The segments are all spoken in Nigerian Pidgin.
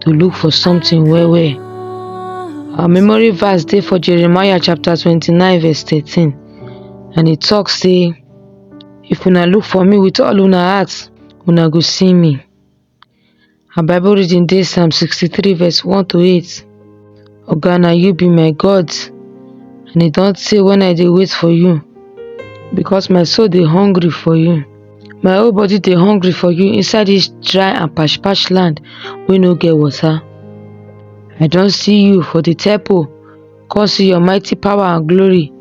to look for something well well. Our memory verse dey for Jeremiah chapter 29 verse 13 and e talk say if una look for me with all una heart una go see me. Our bible reading dey Psalm 63 verse 1 to 8. Oga, na you be my God, and e don tey when I dey wait for you, because my soul dey hungry for you. My whole body dey hungry for you inside this dry and pash pash land wey no get water. I don see you for the temple, come see your mighty power and glory.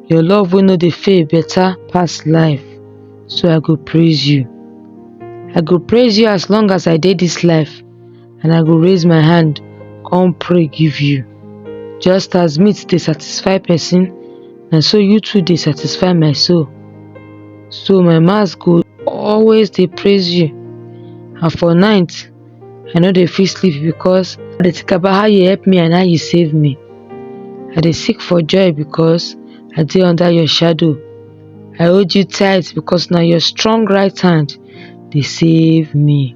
Your love wey no dey fail better pass life, so I go praise you. I go praise you as long as I dey this life. and I go raise my hand, come pray give you. Just as meat dey satisfy person, na so you too dey satisfy my soul. So my mouth go always dey praise you, and for night, I no dey fit sleep because I dey think about how you help me and how you save me. I dey seek for joy because I dey under your shadow. I hold you tight because na your strong right hand dey save me.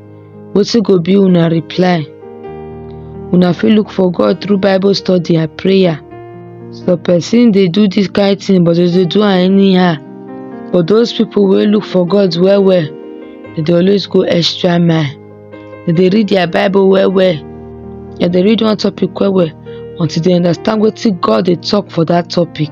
wetin go be una reply una fit look for god through bible study and prayer some person dey do this kind thing but dem dey do am anyhow but those people wey look for god well well dem dey always go extra mile dem dey read their bible well well dem dey read one topic well well until dem understand wetin god dey talk for that topic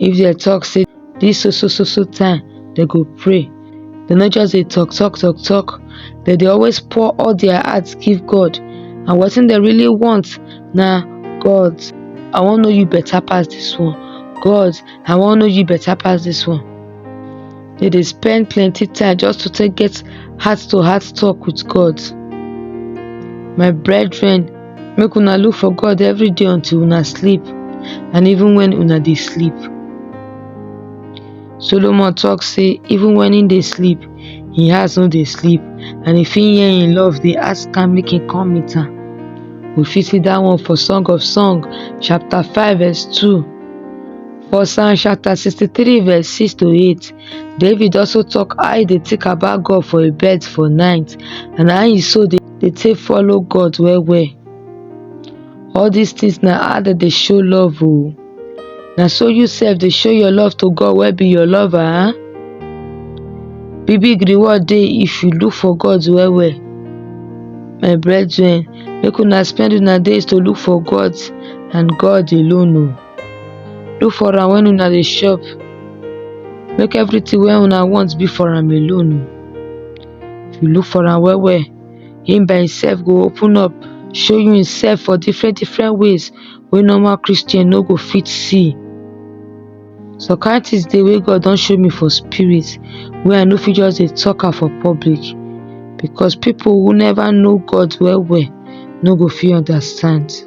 if dem talk say this so so so so time dem go pray dem no just dey talk talk talk talk dem dey always pour all their heart give God and wetin dem really want na God I wan know you better pass this one God I wan know you better pass this one dem dey spend plenty time just to take get heart to heart talk with God my brethren make una look for god every day until una sleep and even when una dey sleep solomon talk say even when he dey sleep he heart no dey sleep and if he hear him love dey ask am make he come meet am we fit see that one for song of song chapter 5 verse 2 for psalm chapter 63 verse 6 to 8 david also talk how he dey think about god for a bed for night and how he so dey dey take follow God well well. All dis things na how dem dey show love o. Na so you sef dey show your love to God wey be your lover. Big big reward dey if you look for God well well. My brethren, make una spend una days to look for God and God alone o. Look for am when una dey shop. Make everything wey una want be for am alone o. if you look for am well well him by himself go open up show you himself for different different ways wey normal christian no go fit see some kind things dey wey god don show me for spirit wey i no fit just dey talk am for public because people who never know god well well no go fit understand